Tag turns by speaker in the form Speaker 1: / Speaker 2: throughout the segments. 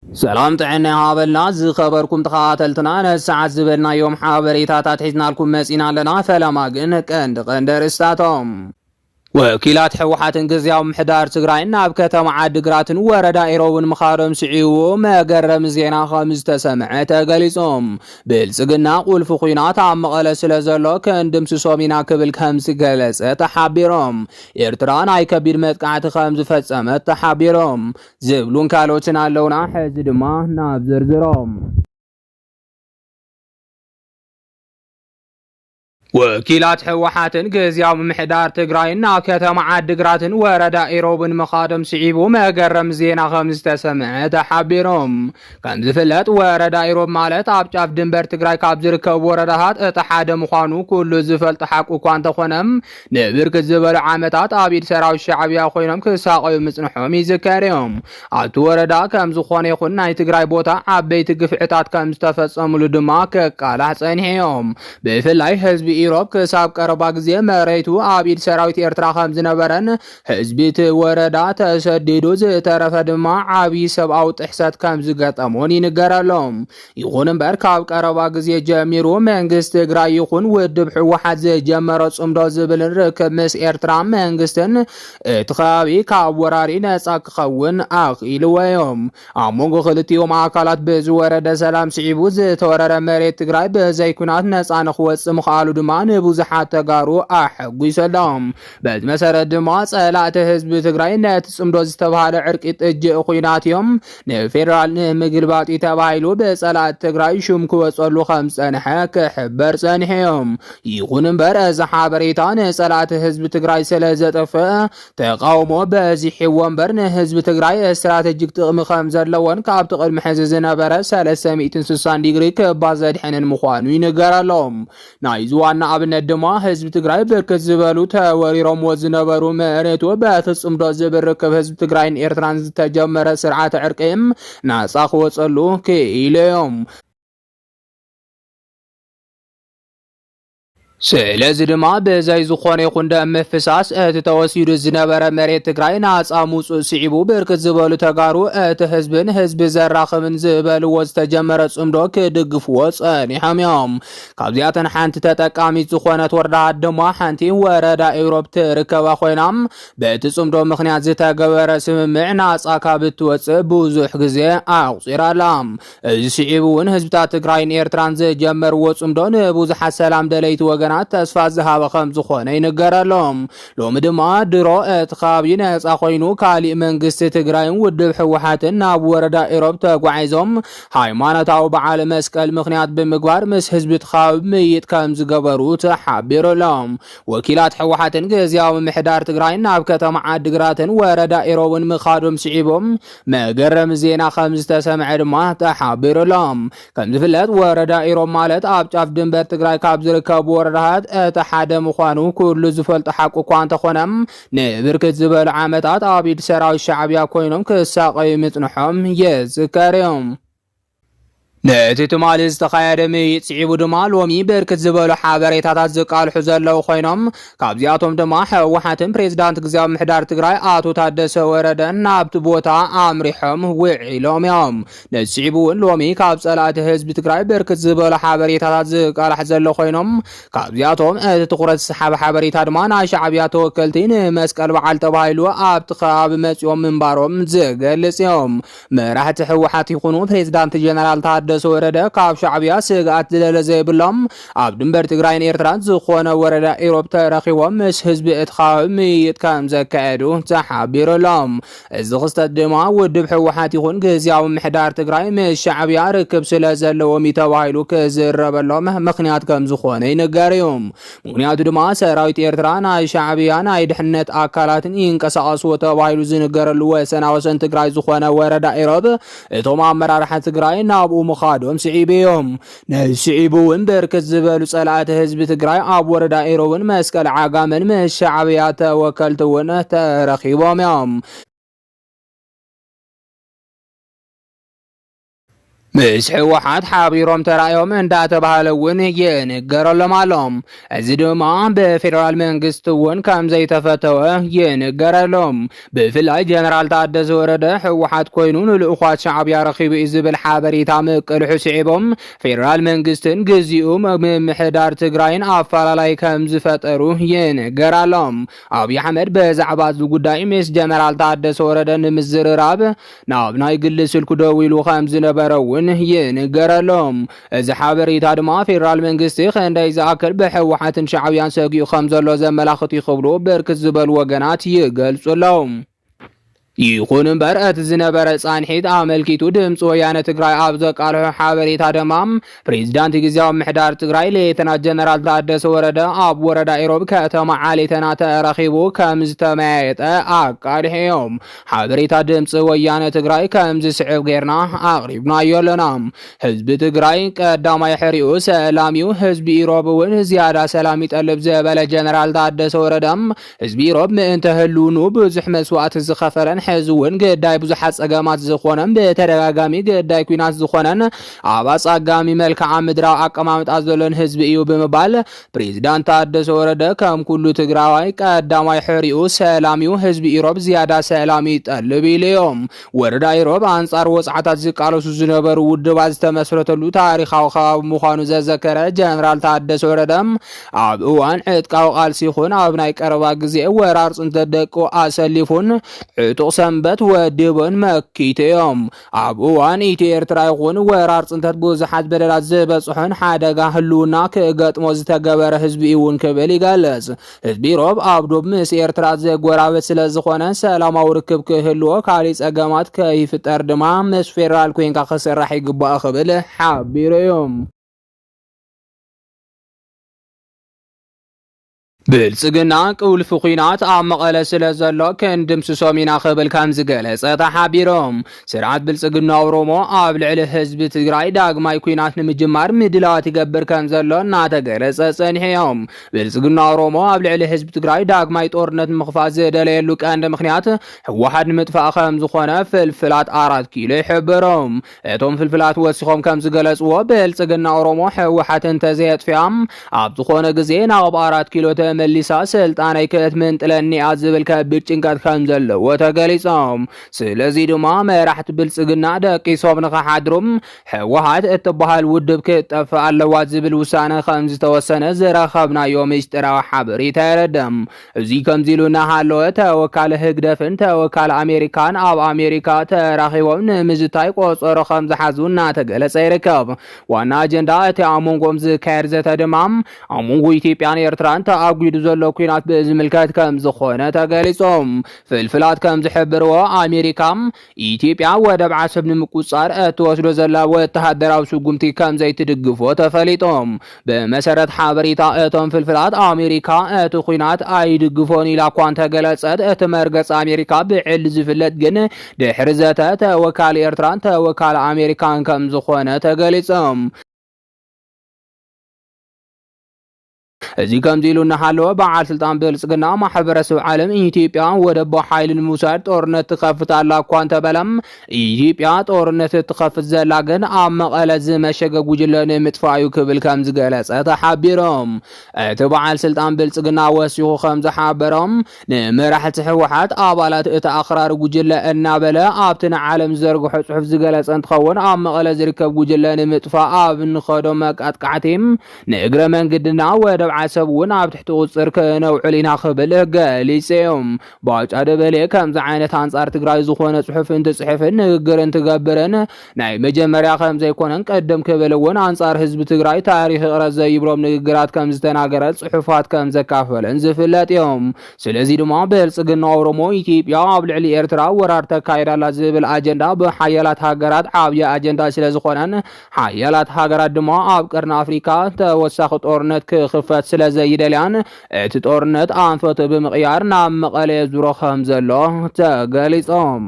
Speaker 1: ሰላም ጥዕና ይሃበልና ዝኸበርኩም ተኸታተልትና ነዚ ሰዓት ዝበልናዮም ሓበሬታታት ሒዝናልኩም መጺና ኣለና ፈለማ ግን ቀንዲ ቀንዲ ኣርእስታቶም ወኪላት ሕወሓትን ግዝያዊ ምሕዳር ትግራይን ናብ ከተማ ዓዲግራትን ወረዳ ኢሮብን ምኻዶም ስዒቡ መገረሚ ዜና ከም ዝተሰምዐ ተገሊጾም ብልጽግና ቁልፊ ኩናት ኣብ መቐለ ስለ ዘሎ ክንድምስሶም ኢና ክብል ከም ዝገለጸ ተሓቢሮም ኤርትራ ናይ ከቢድ መጥቃዕቲ ከም ዝፈጸመት ተሓቢሮም ዝብሉን ካልኦትን ኣለውና። ሕዚ ድማ ናብ ዝርዝሮም ወኪላት ህወሓትን ግዝያዊ ምምሕዳር ትግራይን ናብ ከተማ ዓዲግራትን ወረዳ ኢሮብን ምኻዶም ስዒቡ መገረም ዜና ከም ዝተሰምዐ ተሓቢሮም ከም ዝፍለጥ ወረዳ ኢሮብ ማለት ኣብ ጫፍ ድንበር ትግራይ ካብ ዝርከቡ ወረዳታት እቲ ሓደ ምዃኑ ኩሉ ዝፈልጦ ሓቁ እኳ እንተኾነ ንብርክት ዝበሉ ዓመታት ኣብ ኢድ ሰራዊት ሻዕብያ ኮይኖም ክሳቐዩ ምጽንሖም ይዝከር እዩ። ኣብቲ ወረዳ ከም ዝኾነ ይኹን ናይ ትግራይ ቦታ ዓበይቲ ግፍዕታት ከም ዝተፈጸሙሉ ድማ ክቃላሕ ጸኒሑ እዩ። ብፍላይ ህዝቢ ኢሮብ ክሳብ ቀረባ ግዜ መሬቱ ኣብ ኢድ ሰራዊት ኤርትራ ከም ዝነበረን ህዝቢ እቲ ወረዳ ተሰዲዱ ዝተረፈ ድማ ዓብዪ ሰብኣዊ ጥሕሰት ከም ዝገጠሞን ይንገረሎ። ይኹን እምበር ካብ ቀረባ ግዜ ጀሚሩ መንግስቲ ትግራይ ይኹን ውድብ ህወሓት ዝጀመሮ ጽምዶ ዝብልን ርክብ ምስ ኤርትራ መንግስትን እቲ ከባቢ ካብ ወራሪ ነጻ ክኸውን ኣኽኢልዎ እዮም። ኣብ መንጎ ክልቲኦም ኣካላት ብዝወረደ ሰላም ስዒቡ ዝተወረረ መሬት ትግራይ ብዘይ ኩናት ነፃ ንክወፅእ ምኽኣሉ ድማ ንብዙሓት ተጋሩ ኣሐጒሱ ኣሎ። በዚ መሰረት ድማ ፀላእቲ ህዝቢ ትግራይ ነቲ ፅምዶ ዝተብሃለ ዕርቂ ጥጅእ ኩናት እዮም ንፌደራል ንምግልባጥ እዩ ተባሂሉ ብፀላእቲ ትግራይ ሹም ክወፀሉ ከም ዝፀንሐ ክሕበር ፀኒሑ እዩ። ይኹን እምበር እዚ ሓበሬታ ንፀላእቲ ህዝቢ ትግራይ ስለ ዘጠፍእ ተቃውሞ በዚሕዎ እምበር ንህዝቢ ትግራይ ስትራቴጂክ ጥቕሚ ከም ዘለዎን ካብቲ ቅድሚ ሕዚ ዝነበረ 360 ዲግሪ ክባ ዘድሐንን ምዃኑ ይንገረሎም። ናይዚ ዋና ኣብነት ድማ ህዝቢ ትግራይ ብርክት ዝበሉ ተወሪሮምዎ ዝነበሩ መሬቱ በፍጹምዶ ዝብል ርክብ ህዝቢ ትግራይን ኤርትራን ዝተጀመረ ስርዓተ ዕርቂ ናጻ ክወጸሉ ክኢሉ እዮም። ስለዚ ድማ ብዘይ ዝኾነ ይኹን ደም ምፍሳስ እቲ ተወሲዱ ዝነበረ መሬት ትግራይ ናፃ ምውፅኡ ስዒቡ ብርክት ዝበሉ ተጋሩ እቲ ህዝቢ ንህዝቢ ዘራኽብን ዝበልዎ ዝተጀመረ ፅምዶ ክድግፍዎ ፀኒሖም እዮም። ካብዚኣተን ሓንቲ ተጠቃሚት ዝኾነት ወረዳ ድማ ሓንቲ ወረዳ ኢሮብ ትርከባ ኮይና በቲ ፅምዶ ምክንያት ዝተገበረ ስምምዕ ናፃ ካብ እትወፅእ ብዙሕ ግዜ ኣቑፂራ ኣላ። እዚ ስዒቡ እውን ህዝብታት ትግራይን ኤርትራን ዝጀመርዎ ጽምዶ ንብዙሓት ሰላም ደለይቲ ወገናት ተስፋ ዝሃበ ከም ዝኾነ ይንገረሎም። ሎሚ ድማ ድሮ እቲ ከባቢ ነፃ ኮይኑ ካሊእ መንግስቲ ትግራይን ውድብ ህወሓትን ናብ ወረዳ ኢሮብ ተጓዒዞም ሃይማኖታዊ በዓል መስቀል ምክንያት ብምግባር ምስ ህዝቢ እቲ ከባቢ ምይይጥ ከም ዝገበሩ ተሓቢሩሎም። ወኪላት ህወሓትን ግዝያዊ ምምሕዳር ትግራይን ናብ ከተማ ዓዲግራትን ወረዳ ኢሮብን ምኻዶም ስዒቦም መገረሚ ዜና ከም ዝተሰምዐ ድማ ተሓቢሩ ኣሎ። ከም ዝፍለጥ ወረዳ ኢሮብ ማለት ኣብ ጫፍ ድንበር ትግራይ ካብ ዝርከቡ ወረዳታት እቲ ሓደ ምዃኑ ኩሉ ዝፈልጦ ሓቂ እኳ እንተኾነ ንብርክት ዝበሉ ዓመታት ኣብ ኢድ ሰራዊት ሻዕቢያ ኮይኖም ክሳቐዩ ምጽንሖም ይዝከር እዩ። ነቲ ትማሊ ዝተኻየደ ምይይጥ ስዒቡ ድማ ሎሚ ብርክት ዝበሉ ሓበሬታታት ዝቃልሑ ዘለዉ ኮይኖም ካብዚኣቶም ድማ ህወሓትን ፕሬዚዳንት ግዜያዊ ምሕዳር ትግራይ ኣቶ ታደሰ ወረደን ናብቲ ቦታ ኣምሪሖም ውዒሎም እዮም። ነዚ ስዒቡ እውን ሎሚ ካብ ፀላእቲ ህዝቢ ትግራይ ብርክት ዝበሉ ሓበሬታታት ዝቃላሕ ዘሎ ኮይኖም ካብዚኣቶም እቲ ትኩረት ዝሰሓበ ሓበሬታ ድማ ናይ ሻዕብያ ተወከልቲ ንመስቀል በዓል ተባሂሉ ኣብቲ ከባቢ መፂኦም ምንባሮም ዝገልፅ እዮም። መራሕቲ ህወሓት ይኹኑ ፕሬዝዳንት ጀነራል ታደሰ ወረደ ካብ ሻዕብያ ስግኣት ዝለለ ዘይብሎም ኣብ ድንበር ትግራይን ኤርትራን ዝኾነ ወረዳ ኢሮብ ተረኺቦም ምስ ህዝቢ እቲ ከባቢ ምይይጥ ከም ዘካየዱ ተሓቢሩሎም። እዚ ክስተት ድማ ውድብ ህወሓት ይኹን ግዝያዊ ምሕዳር ትግራይ ምስ ሻዕብያ ርክብ ስለ ዘለዎም እዩ ተባሂሉ ክዝረበሎም ምክንያት ከም ዝኾነ ይንገር እዩ። ምክንያቱ ድማ ሰራዊት ኤርትራ ናይ ሻዕብያ ናይ ድሕነት ኣካላትን ይንቀሳቐስዎ ተባሂሉ ዝንገረሉ ወሰና ወሰን ትግራይ ዝኾነ ወረዳ ኢሮብ እቶም ኣመራርሓ ትግራይ ናብኡ ምኻዶም ስዒቡ እዮም። ነዚ ስዒቡ እውን ብርክት ዝበሉ ጸላእቲ ህዝቢ ትግራይ ኣብ ወረዳ ኢሮብን መስቀል ዓጋመን ምስ ሻዕብያ ተወከልቲ እውን ተረኺቦም እዮም። ምስ ህወሓት ሓቢሮም ተራእዮም እንዳተባሃለ እውን ይንገረሎም ኣሎ። እዚ ድማ ብፌዴራል መንግስቲ እውን ከም ዘይተፈተወ ይንገረሎም። ብፍላይ ጀነራል ታደሰ ወረደ ህወሓት ኮይኑ ንልእኳት ሻዕብያ ረኺቡ እዩ ዝብል ሓበሬታ ምቅልሑ ስዒቦም ፌዴራል መንግስትን ግዚኡ ምምሕዳር ትግራይን ኣፈላላይ ከም ዝፈጠሩ ይንገራሎም። ኣብዪ ኣሕመድ በዛዕባ እዚ ጉዳይ ምስ ጀነራል ታደሰ ወረደ ንምዝርራብ ናብ ናይ ግሊ ስልኩ ደዊሉ ከም ዝነበረ እውን ይንገር ኣሎ። እዚ ሓበሬታ ድማ ፌደራል መንግስቲ ክንደይ ዝኣክል ብህወሓትን ሻዕብያን ሰጊኡ ከም ዘሎ ዘመላኽት እዩ ክብሉ ብርክት ዝበሉ ወገናት ይገልጹ ኣለዉ። ይኹን እምበር እቲ ዝነበረ ጻንሒት ኣመልኪቱ ድምፂ ወያነ ትግራይ ኣብ ዘቃልሖ ሓበሬታ ድማ ፕሬዚዳንት ግዜያዊ ምሕዳር ትግራይ ሌተና ጀነራል ታደሰ ወረደ ኣብ ወረዳ ኢሮብ ከተማ ዓሌተና ተረኺቡ ከም ዝተመያየጠ ኣቃሊሑ እዮም። ሓበሬታ ድምፂ ወያነ ትግራይ ከም ዝስዕብ ጌርና ኣቕሪብናዮ ኣለና። ህዝቢ ትግራይ ቀዳማይ ሕሪኡ ሰላም እዩ፣ ህዝቢ ኢሮብ እውን ዝያዳ ሰላም ይጠልብ ዝበለ ጀነራል ታደሰ ወረደ ህዝቢ ኢሮብ ምእንተ ህልውንኡ ብዙሕ መስዋእቲ ዝኸፈለን ሕዚ እውን ግዳይ ብዙሓት ፀገማት ዝኾነን ብተደጋጋሚ ግዳይ ኩናት ዝኾነን ኣብ ኣፃጋሚ መልክዓ ምድራዊ ኣቀማምጣ ዘሎን ህዝቢ እዩ ብምባል ፕሬዚዳንት ታደሰ ወረደ ከም ኩሉ ትግራዋይ ቀዳማይ ሕሪኡ ሰላም እዩ ህዝቢ ኢሮብ ዝያዳ ሰላም ይጠልብ ኢሉ እዮም ወረዳ ኢሮብ ኣንጻር ወጽዓታት ዝቃለሱ ዝነበሩ ውድባት ዝተመስረተሉ ታሪኻዊ ከባቢ ምዃኑ ዘዘከረ ጀነራል ታደሰ ወረደ ኣብ እዋን ዕጥቃዊ ቃልሲ ይኹን ኣብ ናይ ቀረባ ግዜ ወራር ፅንተት ደቁ ኣሰሊፉን ዕጡቕ ሰንበት ወዲቡን መኪቱ እዮም። ኣብ እዋን ኢትዮ ኤርትራ ይኹን ወራር ፅንተት ብዙሓት በደላት ዝበፅሖን ሓደጋ ህልውና ክገጥሞ ዝተገበረ ህዝቢ እዩ እውን ክብል ይገልፅ። ህዝቢ ኢሮብ ኣብ ዶብ ምስ ኤርትራ ዘጎራበት ስለ ዝኾነ ሰላማዊ ርክብ ክህልዎ ካሊእ ፀገማት ከይፍጠር ድማ ምስ ፌደራል ኮይንካ ክስራሕ ይግባእ ክብል ሓቢሩ እዩ። ብልጽግና ቅውልፊ ኩናት ኣብ መቐለ ስለ ዘሎ ክንድምስሶም ኢና ክብል ከም ዝገለጸ ተሓቢሮም ስርዓት ብልጽግና ኦሮሞ ኣብ ልዕሊ ህዝቢ ትግራይ ዳግማይ ኩናት ንምጅማር ምድላዋት ይገብር ከም ዘሎ እናተገለጸ ጸኒሖም። ብልጽግና ኦሮሞ ኣብ ልዕሊ ህዝቢ ትግራይ ዳግማይ ጦርነት ምኽፋት ዝደለየሉ ቀንዲ ምክንያት ህወሓት ንምጥፋእ ከም ዝኾነ ፍልፍላት ኣራት ኪሎ ይሕብሮም። እቶም ፍልፍላት ወሲኾም ከም ዝገለጽዎ ብልጽግና ኦሮሞ ሕወሓት እንተዘየጥፊኣ ኣብ ዝኾነ ግዜ ናብ ኣራት ኪሎ ተመሊሳ ስልጣነይ ክትምንጥለኒያ ዝብል ከቢድ ጭንቀት ከም ዘለዎ ተገሊጾም። ስለዚ ድማ መራሕቲ ብልጽግና ደቂሶም ንኸሓድሩ ሕወሓት እትበሃል ውድብ ክትጠፍእ ኣለዋ ዝብል ውሳነ ከም ዝተወሰነ ዝረኸብናዮ ምስጢራዊ ሓበሬታ የረድእ። እዚ ከምዚሉ እናሃለወ ተወካሊ ህግደፍን ተወካሊ ኣሜሪካን ኣብ ኣሜሪካ ተራኺቦም ንምዝታይ ቆፀሮ ከምዝሓዙ እናተገለፀ ይርከብ። ዋና ኣጀንዳ እቲ ኣብ መንጎኦም ዝካየድ ዘተ ድማ ኣብ መንጎ ኢትዮጵያን ኤርትራን ተኣጒዱ ዘሎ ኩናት ብዝምልከት ከምዝኾነ ተገሊፆም። ፍልፍላት ከምዝሕብርዎ ኣሜሪካ ኢትዮጵያ ወደብ ዓሰብ ንምቁፅፃር እትወስዶ ዘላ ወተሃደራዊ ስጉምቲ ከምዘይትድግፎ ተፈሊጡ። ብመሰረት ሓበሬታ እቶም ፍልፍላት ኣሜሪካ እቲ ኲናት ኣይድግፎን ኢላ እኳ እንተገለፀት እቲ መርገፂ ኣሜሪካ ብዕሊ ዝፍለጥ ግን ድሕሪ ዘተ ተወካሊ ኤርትራን ተወካሊ ኣሜሪካን ከምዝኾነ ተገሊፁ። እዚ ከምዚ ኢሉ እናሃለወ በዓል ስልጣን ብልፅግና ማሕበረሰብ ዓለም ኢትዮጵያ ወደብ ብሓይሊ ንምውሳድ ጦርነት ትኸፍት ኣላ እኳ እንተበለ ኢትዮጵያ ጦርነት እትኸፍት ዘላ ግን ኣብ መቐለ ዝመሸገ ጉጅለ ንምጥፋእ እዩ ክብል ከም ዝገለፀ ተሓቢሮም። እቲ በዓል ስልጣን ብልፅግና ወሲኹ ከም ዝሓበሮም ንመራሕቲ ህወሓት ኣባላት እቲ ኣኽራሪ ጉጅለ እናበለ ኣብቲ ንዓለም ዝዘርግሖ ፅሑፍ ዝገለፀ እንትኸውን ኣብ መቐለ ዝርከብ ጉጅለ ንምጥፋእ ኣብ ንኸዶ መቃጥቃዕቲ ንእግረ መንግድና ወደብ ዓሰብ እውን ኣብ ትሕቲ ቁፅፅር ክነውዕል ኢና ክብል ገሊፁ እዩ። ባጫ ደበሌ ከምዚ ዓይነት ኣንፃር ትግራይ ዝኾነ ፅሑፍ እንትፅሕፍን ንግግር እንትገብርን ናይ መጀመርያ ከምዘይኮነን ቅድም ክብል እውን ኣንፃር ህዝቢ ትግራይ ታሪኽ ይቕረ ዘይብሎም ንግግራት ከምዝተናገረ ፅሑፋት ከምዘካፈለን ዝፍለጥ እዩ። ስለዚ ድማ ብልፅግና ኦሮሞ ኢትዮጵያ ኣብ ልዕሊ ኤርትራ ወራር ተካይድ ኣላ ዝብል ኣጀንዳ ብሓያላት ሃገራት ዓብዪ ኣጀንዳ ስለዝኾነን ሓያላት ሃገራት ድማ ኣብ ቀርኒ ኣፍሪካ ተወሳኺ ጦርነት ክኽፈት ስለ ዘይደልያን እቲ ጦርነት ኣንፈቱ ብምቕያር ናብ መቐለ የዙሮ ከም ዘሎ ተገሊፆም።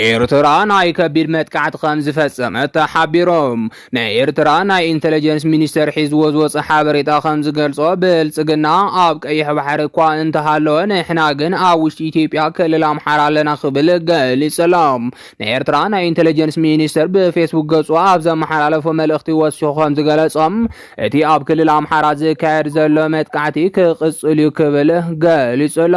Speaker 1: ኤርትራ ናይ ከቢድ መጥቃዕቲ ከም ዝፈጸመት ተሓቢሮም። ናይ ኤርትራ ናይ ኢንተለጀንስ ሚኒስተር ሒዝዎ ዝወጸ ሓበሬታ ከም ዝገልጾ ብልጽግና ኣብ ቀይሕ ባሕሪ እኳ እንተሃለወ ንሕና ግን ኣብ ውሽጢ ኢትዮጵያ ክልል ኣምሓራ ኣለና ክብል ገሊጹ ኣሎ። ናይ ኤርትራ ናይ ኢንተለጀንስ ሚኒስተር ብፌስቡክ ገጹ ኣብ ዘመሓላለፎ መልእኽቲ ወሲኹ ከም ዝገለጾ እቲ ኣብ ክልል ኣምሓራ ዝካየድ ዘሎ መጥቃዕቲ ክቕጽል እዩ ክብል ገሊጹ ኣሎ።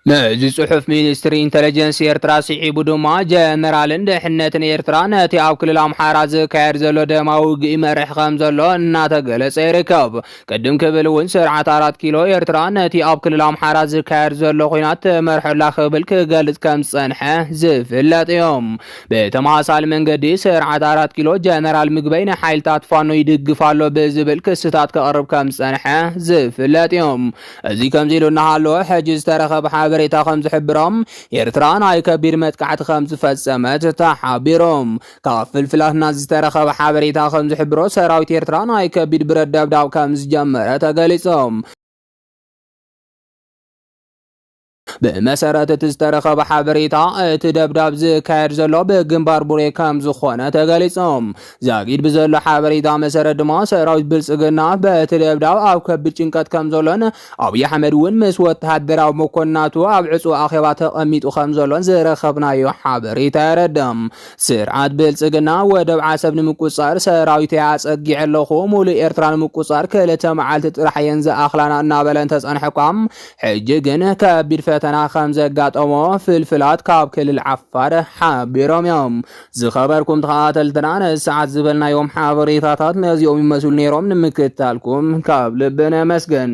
Speaker 1: ነዚ ጽሑፍ ሚኒስትሪ ኢንተለጀንስ ኤርትራ ስዒቡ ድማ ጀነራልን ድሕነትን ኤርትራ ነቲ ኣብ ክልል ኣምሓራ ዝካየድ ዘሎ ደማዊ ውግኢ መርሕ ከም ዘሎ እናተገለጸ ይርከብ። ቅድም ክብል እውን ስርዓት ኣራት ኪሎ ኤርትራ ነቲ ኣብ ክልል ኣምሓራ ዝካየድ ዘሎ ኩናት ትመርሖላ ክብል ክገልጽ ከም ዝጸንሐ ዝፍለጥ እዩ። ብተመሳሳሊ መንገዲ ስርዓት ኣራት ኪሎ ጀነራል ምግበይ ንሓይልታት ፋኖ ይድግፍ ኣሎ ብዝብል ክስታት ከቕርብ ከም ዝጸንሐ ዝፍለጥ እዩ። እዚ ከምዚ ኢሉ እናሃለወ ሕጂ ዝተረኸበ ሓበሬታ ከምዝሕብሮ ኤርትራ ናይ ከቢድ መጥቃዕቲ ከምዝፈጸመት ተሓቢሩ። ካብ ፍልፍላትና ዝተረኸበ ሓበሬታ ከምዝሕብሮ ሰራዊት ኤርትራ ናይ ከቢድ ብረት ደብዳብ ከምዝጀመረ ተገሊጹ። ብመሰረት እቲ ዝተረኸበ ሓበሬታ እቲ ደብዳብ ዝካየድ ዘሎ ብግንባር ቡሬ ከም ዝኾነ ተገሊጾም። ዛጊድ ብዘሎ ሓበሬታ መሰረት ድማ ሰራዊት ብልጽግና በቲ ደብዳብ ኣብ ከቢድ ጭንቀት ከም ዘሎን ኣብይ ኣሕመድ እውን ምስ ወተሃደራዊ መኮንናቱ ኣብ ዕጹው ኣኼባ ተቐሚጡ ከም ዘሎን ዝረኸብናዮ ሓበሬታ የረድም። ስርዓት ብልጽግና ወደብ ዓሰብ ንምቁጽጻር ሰራዊተይ ኣጸጊዐ ኣለኹ፣ ሙሉእ ኤርትራ ንምቁጽጻር ክልተ መዓልቲ ጥራሕ እየን ዝኣኽላና እናበለ እንተጸንሐ እኳ ሕጂ ግን ከቢድ ፈተና ከም ዘጋጠሞ ፍልፍላት ካብ ክልል ዓፋር ሓቢሮም እዮም። ዝኸበርኩም ተኸታተልትና ነዚ ሰዓት ዝበልናዮም ሓበሬታታት ነዚኦም ይመስሉ ነይሮም። ንምክትታልኩም ካብ ልቢ ነመስግን።